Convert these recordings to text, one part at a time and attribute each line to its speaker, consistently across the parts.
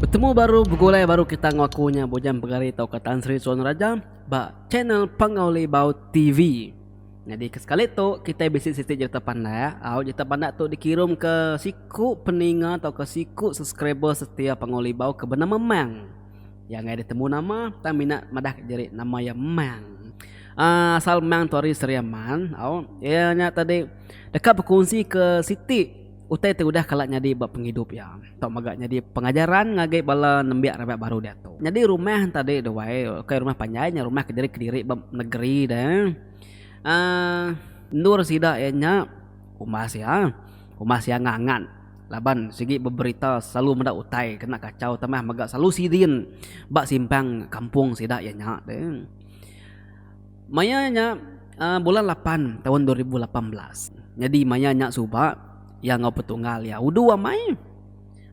Speaker 1: Betemu baru begulai baru kita enggau aku nya Bujang Pegari tauka Tan Sri Suan Raja ba channel Pangau Libau TV. Nyadi ke sekali tu kitai bisi siti jerita pandak, au jerita pandak tu dikirumka siku peninga tauka siku subscriber setia Pangau Libau ke benama Mang. Iya enggai ada temu nama, tang mina madah ka diri nama iya Mang. Aaa asal Mang tu ari Seria Man, au. Iya nya tadi deka bekunsi ke siti utai ti udah kala nyadi ba pengidup iya tau mega nyadi pengajaran ngagai bala nembiak raban baru diatu. Nyadi rumah enti tadi deh wai, ukai rumah panjai nya rumah kediri kediri ba negeri deh. Aaa endur sida iya nya umbas iya, umbas iya ngangat. Laban sigi beberita selalu meda utai kena kachau tambah mega selalu sidin ba simpang kampung sida iya nya tu. Maya nya aaa bulan lapan taun dua ribu lapan belas nyadi maya nya suba iya enggau petunggal iya udu amai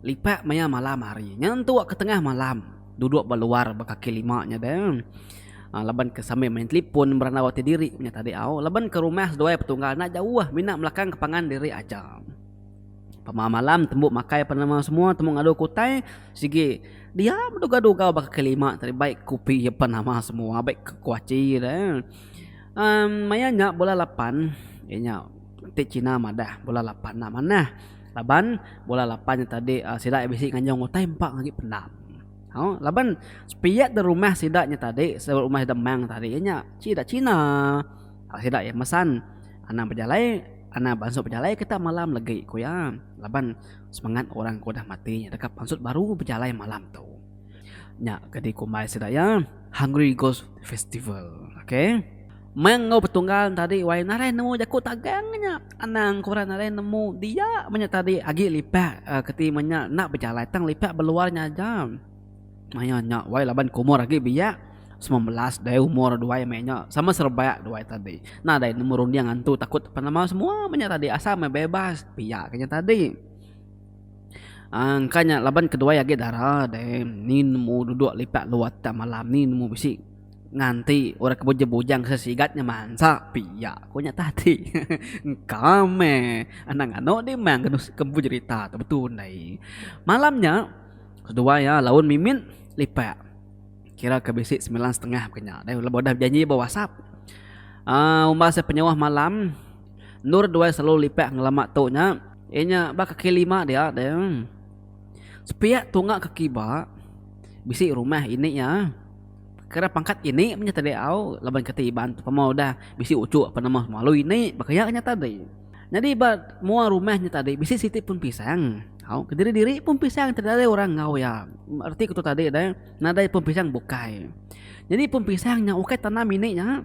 Speaker 1: lipat maya malam hari nyentu ke tengah malam duduk ba luar ba kaki lima nya de laban ke sambil main telefon berandau ati diri nya tadi au laban ke rumah seduai petunggal enda jauh mina belakang ke pangan diri aja. Pemau malam tembu makai penemu semua tembu ngadu ke utai sigi dia beduga-duga baka ke lima tadi bai kopi ke penama semua bai ke kuachi dia eh um maya nya bulan lapan iya nya ti Cina madah bulan lapan enda manah laban bulan lapan nya tadi sida iya bisi nganjung utai empa agi pendam au laban sepiak da rumah sida nya tadi sebut rumah sida Mang tadi iya nya Cina. Taap sida iya mesan anang bejalai anang beansut bejalai ke tak malam legi ku iya laban semengat orang ke udah mati nya deka beansut baru bejalai malam tu. Nya ke dikumbai sida iya Hungry Ghost Festival. Ok. Meh enggau betunggal ne tadi wai narai nemu jaku tagang nya anang ke orang narai nemu dia meh nya tadi agi lipak ke ti meh nya enda bejalai tang lipak beluar nya aja. Maya nya wai laban ke umur agi biak semilan belas deh umur duai meh nya sama serebak duai tadi. Nah deh nemu runding antu takut apan ama semua meh nya tadi asal meh bebas pia ke nya tadi. Aaa engka nya laban ke duai agi dara deh ni nemu duduk lipat luar tang malam ni nemu bisi nganti orang ke bujang bujang ke sigat nya mansa pia ku nya tadi hehe engka meh anang anu dimang ke ke empu jerita tu betu ndai. Malam nya. Seduai iya laun mimit lipat kira ke bisi semilan setengah bukan nya deh laban udah bejanji ba whatsapp um umbas iya penyauh malam endur duai selalu lipat ngelama tu nya iya nya ba kaki lima dia deh sepiak tunga kaki ba bisi rumah ini iya kira pangkat ini mah nya tadi au laban kati iban tu pemau udah bisi uchu apan nama semalu ini baka iya nya tadi nyadi ba mua rumah nya tadi bisi siti pun pisang. Au, kediri-diri pun pisang ti nadai orang enggau iya. Reti ku tu tadi deh, nadai pun pisang bukai. Jadi pun pisang nya ukai tanam ini nya.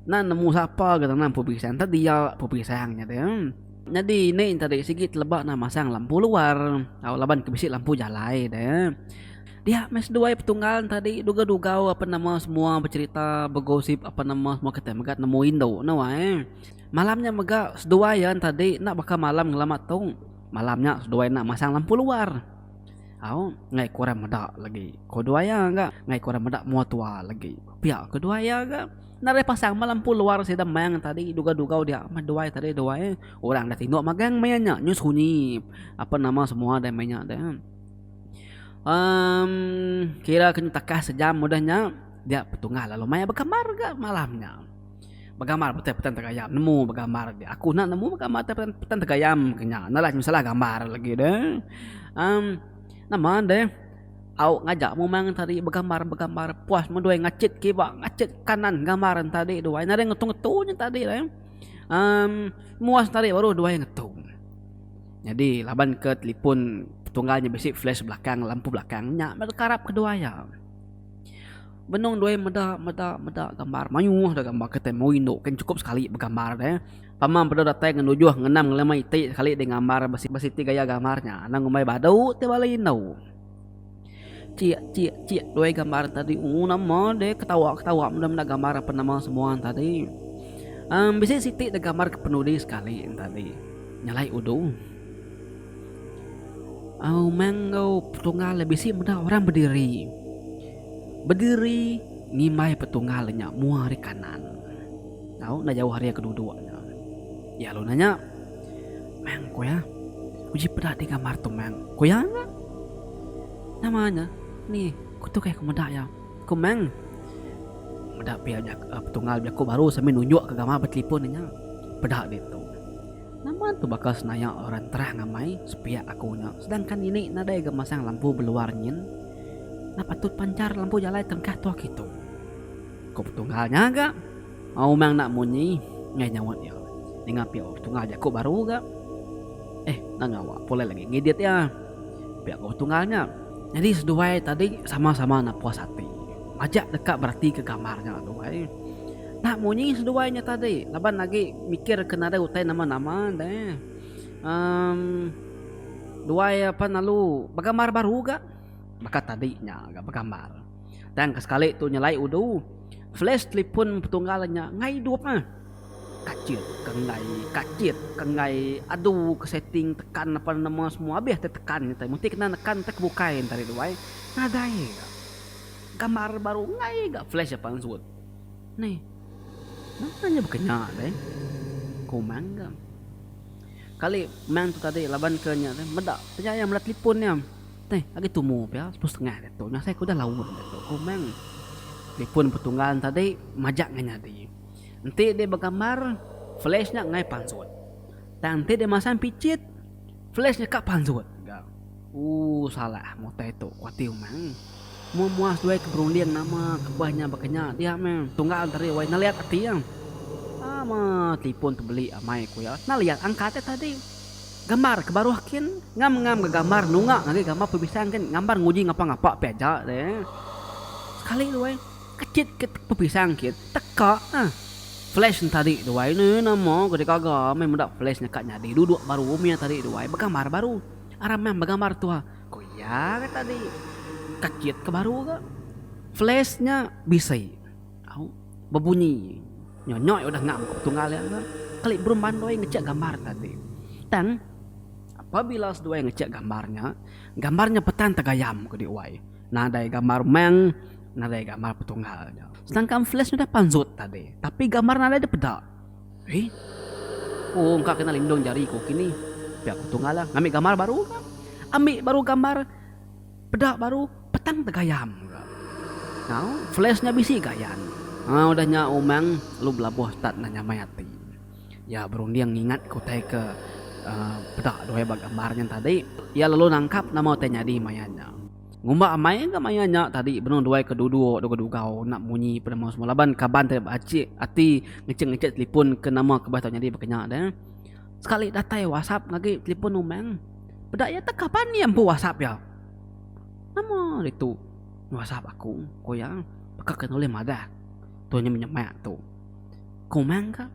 Speaker 1: Nan nemu sapa ga tanam pun pisang, entah dia pun pisang nya deh. Jadi ini tadi sigi teleba nan masang lampu luar, au laban ke bisi lampu jalai deh. Dia meh seduai petunggal ne tadi dugau-dugau ape nama semua becerita, begosip ape nama semua kitai mega nemu indu ne wai. Malam nya mega seduai iya enti adi enda baka malam ngelama tu. Malam nya seduai enda masang lampu luar. Au, enggai ke orang meda lagi, ku duai iya ga. Enggai ke orang meda mua tua lagi, pia ku duai iya ga. Enda ulih pasang meh lampu luar sida mayang enti adi dugau-dugau dia meh duai tadi duai. Orang dah tinduk magang maya nya, nyu sunyi apa nama semua deh maya nya deh. Amm kira ke nyu takas sejam udah nya dia petunggal lalu maya bekambar ga malam nya. Begambar petai petan tegayam nemu begambar agi aku enda nemu begambar tai petan tegayam ke nya enda lah salah gambar lagi de em nama de au ngaja mu main ngan tadi begambar begambar puas meh duai ngachit kiwa ngachit kanan gambar ne tadi duai nadai ngetu ngetu nyen tadi em muas tadi baru duai ngetu nyadi laban ke talipon petunggal nya bisi flash belakang lampu belakang nya meh karap ke duai iya. Benung doi meda meda meda gambar. Mayuh dah gambar kitai mauh indu kin chukup sekali begambar deh. Pama empedu datai ngan ujuh ngenam ngelima iti sekali deh ngambar besi besi ti gaya gambar nya. Anang ngumbai badu ti bala indu. Chik chik chik doi gambar tadi ooh nama deh ketawa ketawa meda meda gambar ape nama semua tadi. Em bisi siti dah gambar ke penudi sekali tadi. Nyalai udu. Umang enggau petunggal bisi meda orang bediri. Bediri ngimbai petunggal nya mua ari kanan tau enda jauh ari ke duduk nya. Iya lalu nanya, Mang ku iya, uji peda ti gambar tu mang? Ku iya nya. Nama nya? Ni, ku tu kai ku meda iya. Ku mang, meda pia petunggal jaku baru sambil nunjukka gambar ba telefon inya. Peda ditu. Nama tu baka senaya orang terang amai sepiak aku nya sedangkan ini nadai ga masang lampu beluar nyin? Enda patut panchar lampu jalai tengkah tuah kitu, ku Petunggal nya ga maumang enda munyi enggai nyaut iya. Ninga pia Ong Petunggal jaku baru ga eh enda ngawa pulai lagi ngidit iya, pia ku Petunggal nya. Nyadi seduai tadi sama-sama enda puas ati majak deka beratika gambar nya duai. Enda munyi seduai nya tadi laban agi mikir ke nadai utai nama-nama deh. Emm duai apan lalu begambar baru ga baka tadi nya ga begambar. Tang ke sekali tu nyelai udu flash telefon petunggal nya enggai idup ah. Kachit ke enggai, kachit ke enggai, adu ke setting tekan apan nama semua abih ti tekan nya tadi. Mesti kena nekan ti ke bukai nya tadi duai. Nadai ga. Gambar baru enggai ga flash apan suwut. Ni, napa nya baka nya deh? Ku Mang ga. Kali Mang tu tadi laban ke nya deh meda pia iya meda telefon iya. Teh, agi tumu pia sepuluh setengah ga tu nya asai ku udah laun ga tu, ku Mang. Telefon petunggal ne tadi majak ngai nyadi. Enti deh begambar, flash nya ngai pansut. Tang enti deh masang pichit, flash nya ka pansut ga. Ooh salah mutai tu kuati umang. Mua muas duai ke berunding nama kebah nya bakanya dia meh tunggal enteri wai naliat ati iya. Ama tipun tu beli amai ku iya naliat angkat iya tadi. Gambar ke baruh kin ngam ngam ga gambar nunga ngagai gambar pepisang kin ngambar nguji ngapa ngapa pia aja deh. Sekali duai kecit ke pepisang kin teka ah flash nya tadi duai ne nama ke dikaga meh meda flash nya ka nyadi duduk baru meh iya tadi duai begambar baru. Aramang begambar tua, ku iya ke tadi kecit ke baru ga. Flash nya bisi. Au. Bebunyi. Nyonyoi udah ngam ke petunggal iya ga. Keli berumban doi ngecek gambar tadi. Tang, apabila seduai ngecek gambar nya, gambar nya petan tegayam ke diuai. Nadai gambar mang, nadai gambar petunggal nya. Sedangkan flash nya udah panzut tadi. Tapi gambar nadai dipeda. Ih. Ku engka kena lindung jari ku kini. Pia ku Tunga lah. Ngambi gambar baru ka. Ambi baru gambar peda baru petang tegayam ka. Tau flash nya bisi gayan. Haa udah nya Umang lalu belabuh start enda nyamai ati. Iya berunding ngingatka utai ke uhh peda duai ba gambar nya tadi. Iya lalu nangkap nama utai nyadi maya nya. Ngumba amai ga maya nya tadi benung duai ke duduk dua ke dugau enda munyi pun nama semua laban kaban tadi ba acik ati ngecek-ngecek telefon ke nama ke bah tau nyadi ba kinya deh. Sekali datai whatsapp ngagi telefon umang peda iya teka pan iya empu whatsapp iya. Nama ditu whatsapp aku ku iya baka ke nulih madah tu nya menyemak tu. Ku umang ka.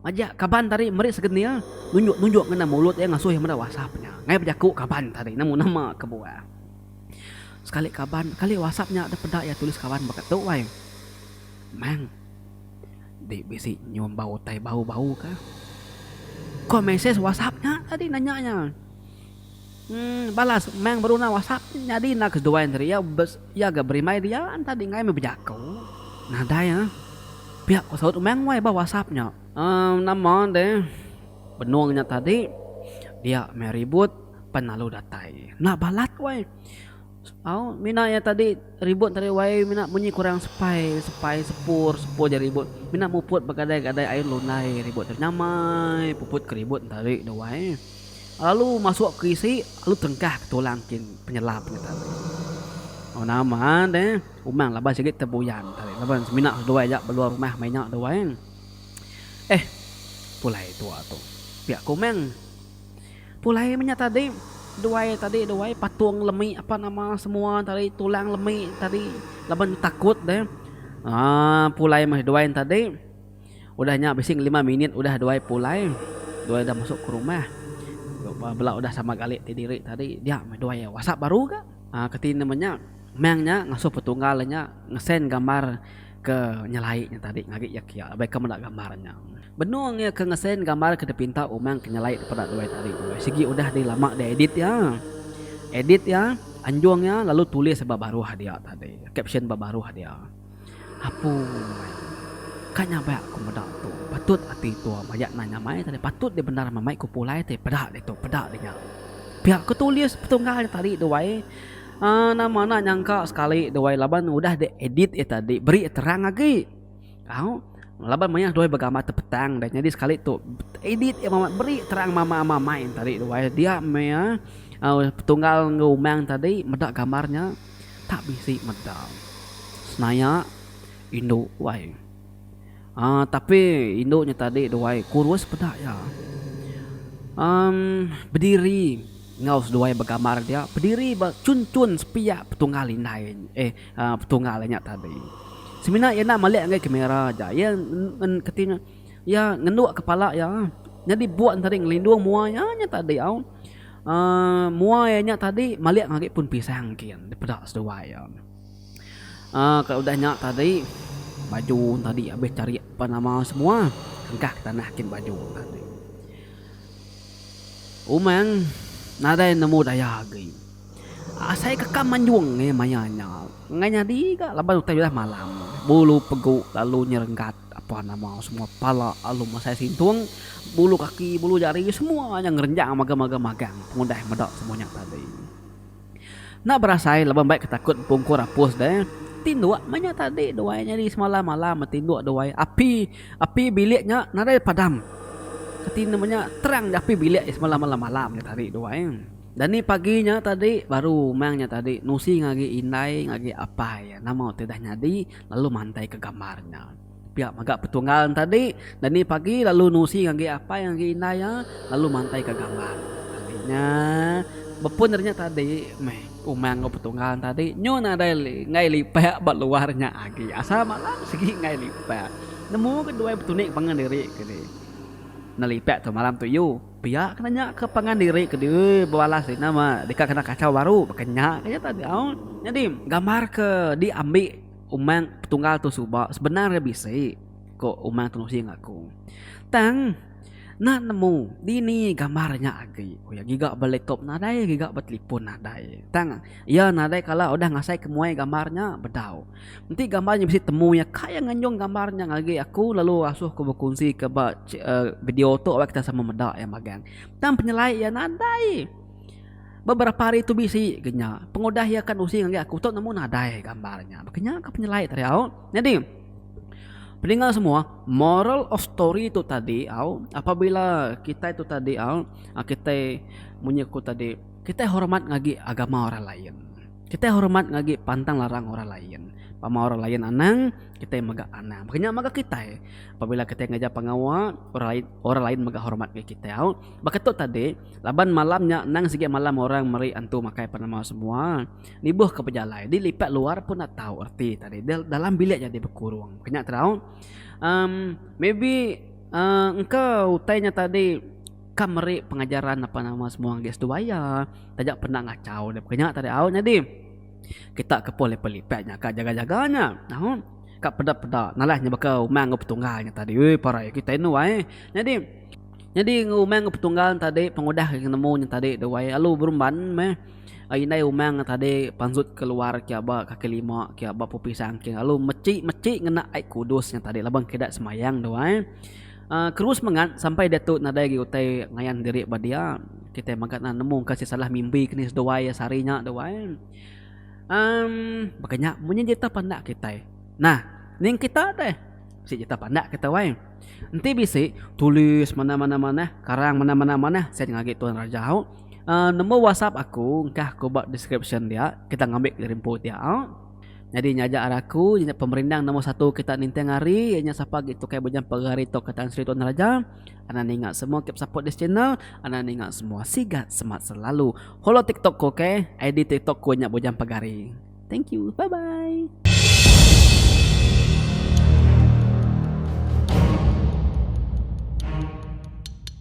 Speaker 1: Majak kaban tadi meri segenil nunjuk-nunjuk ngena mulut iya ngasuh iya meda wasap nya. Ngai bejaku kaban tadi nemu nama kebuah. Sekali kaban, sekali wasap nya deh peda iya tulis kaban baka tu wai. Mang deh bisi nyumba utai bau-bau kah. Ko mesej wasap nya tadi nanya iya. Balas, Mang beruna wasap. Nyadi enda ke seduai enteri iya iya ga berimbai dia entadi enggai meh bejako. Nadai ah. Pia ko saut Mang wai ba wasap nya. Emm nama deh benung nya tadi dia meh ribut pan lalu datai. Enda balat wai. Au mina iya tadi ribut entadi wai mina munyi kurang sepai sepai sepur sepur ja ribut. Mina muput begadai gadai ain lundai ribut tadi nyamai puput ke ribut entadi duai. Lalu masuk ke isi lalu tengkah ke tulang kin penyelam nya tadi. Oh nama de umang laban sigi tebuyan tadi laban semina seduai aja beluar rumah meh nya duai. Eh pulai tua tu pia ke umang pulai meh nya tadi duai tadi duai patung lemi apa nama semua tadi tulang lemi tadi laban takut deh aaa pulai meh duai tadi. Udah nya bisi ngelima minit udah duai pulai, duai udah masuk ke rumah. Bela udah sama gali ti diri tadi, dia meh duai WhatsApp baru ga. Aa keti nama nya? Meng nya ngasuh petunggal nya ngesend gambar ke nyelai nya tadi ngagi iya kiya laban ika meda gambar nya. Benung iya ke ngesend gambar ke dipinta umang ke nyelai daripada duai tadi. Sigi udah deh lama deh edit iya. Edit iya, anjung iya lalu tulis ba baruh dia tadi, caption ba baruh dia. Apoi. Ka nya baya ku meda tu. Patut ati tua mayak nai nyamai tadi patut dia bendar mamai ku pulai ti peda ditu peda dinya. Pia ku tulis petunggal nya tadi duai uhh nama enda nyangka sekali duai laban udah di edit iya tadi beri terang agi au laban maya duai begambar ti petang dah nyadi sekali tu edit iya mama beri terang mama mamai tadi duai dia meh iya petunggal enggau umang tadi meda gambar nya. tak bisi meda. Senaya indu wai. Aaa tapi indu nya tadi duai kurus peda iya. Amm bediri enggau seduai begambar dia bediri ba chunchun sepiak petunggal indai eh petunggal inya tadi. Semina iya enda melek ngagai kamera aja. Iya kati nya iya ngenduk kepala iya nyadi buan tadi ngelindung mua iya nya tadi au. Uh, mua iya nya tadi malik ngagi pun pisang kin dipeda seduai ya. Uh, kalau udah nya tadi baju tadi habis cari apa nama semua kengkah ke tanah kin baju tadi. Umang nadai nemu daya agi. Asai ke kam manjung iya maya nya. Enggai nyadi ga laban utai udah malam. Bulu pegu lalu nyerenggat apan nama semua pala lalu masai sintung, bulu kaki bulu jari semua nya ngerenjang magang-magang magang pengudah meda semua nya tadi. Enda berasai laban mbai ke takut empungkur apus deh. Tinduk meh nya tadi dua iya nyadi semalam malam meh tinduk dua iya. Api api bilik nya nadai padam. Reti ne meh nya terang api bilik iya semalam malam-malam nya tadi dua iya. Dani pagi nya tadi baru umang nya tadi nusi ngagi indai ngagi apai iya nama ti udah nyadi lalu mantai ke gambar nya. Pia mega petunggal tadi dani pagi lalu nusi ngagi apai ngagi indai iya lalu mantai ke gambar nya. Nya bepun ari nya tadi meh umang enggau petunggal tadi nyu nadai enggai lipak ba luar nya agi asal malam sigi enggai lipak. Nemu ke duai betunik pangan diri ke ni nelipak tu malam tu iu. Pia kena nya ke pangan diri ke diui bebalas ri nama deka kena kachau baru baka nya ke nya tadi au. Nyadi gambar ke diambi Umang Petunggal tu suba sebenar iya bisi ko Umang Tenusi enggau aku. Tang enda nemu dini gambar nya agi ku iya giga ba laptop nadai giga ba telefon nadai. Tang iya nadai kala udah ngasai ke muai gambar nya bedau. Enti gambar nya bisi temu iya ka iya nganjung gambar nya ngagai aku lalu asuh aku bekunsi ka ba video tu lalu kita sama meda iya magang. Tang penyelai iya nadai beberapa hari tu bisi ga nya pengudah iya akan usi ngagai aku tu nemu nadai gambar nya baka nya ka penyelai tadi au. Nyadi peninga semua moral of story tu tadi au apabila kitai tu tadi au kitai munyi aku tadi kitai hormat ngagai agama orang lain. Kitai hormat ngagi pantang larang orang lain. Pama orang lain anang, kitai mega anang. Baka nya mega kitai. Apabila kitai ngajar pengawa, orang lain orang lain mega hormat ngagai kitai. Baka tu tadi, laban malam nya anang sigi malam orang meri antu makai penemu semua. Nibuh ke bejalai, di lipat luar pun enda tau reti tadi. Dalam bilik jadi bekurung. Baka nya tau. Maybe engka utai nya tadi. Ka meri pengajaran apan nama semua ngagai seduai iya. Taja penda ngachau dia baka nya tadi au nyadi. Kita ke pun lipat lipat nya ka jaga jaga nya. Au. Ka peda peda nalas nya baka umang enggau petunggal nya tadi. Ui parai kitai enu ai. Nyadi nyadi enggau umang enggau petunggal nya tadi pengudah ke nemu nya tadi tu ai alu berumban meh. Ai indai umang nya tadi pansut ke luar kia ba kaki lima kia ba pupi sangking lalu meci meci ngena ai kudus nya tadi laban ke ida sembayang tu ai. Terus mengat sampai diatu nadai agi utai ngayan diri ba dia. Kitai mega nan nemu engka sisalah mimbi ke ni seduai iya sehari nya tu ai. Um baka nya munyi jita pandak kitai. Nah, ning kita deh bisi jita pandak kita wai. Enti bisi tulis manah-manah manah, karang manah-manah manah sien ceh ngagai tuan raja au. Um number whatsapp aku engkah ku ba description dia kita ngambi garimpu dia au. Nyadi nya aja arai aku, iya nya pemerindang nombor satu kita ninting hari, iya nya sapa agi tu kai bejampa ga hari tu ka Tan Sri Tun Raja, anang ninga semua keep support this channel, anang ninga semua sigat semat selalu, follow tiktok ku ok, ID tiktok ku nya bejampa ga hari, thank you bye bye.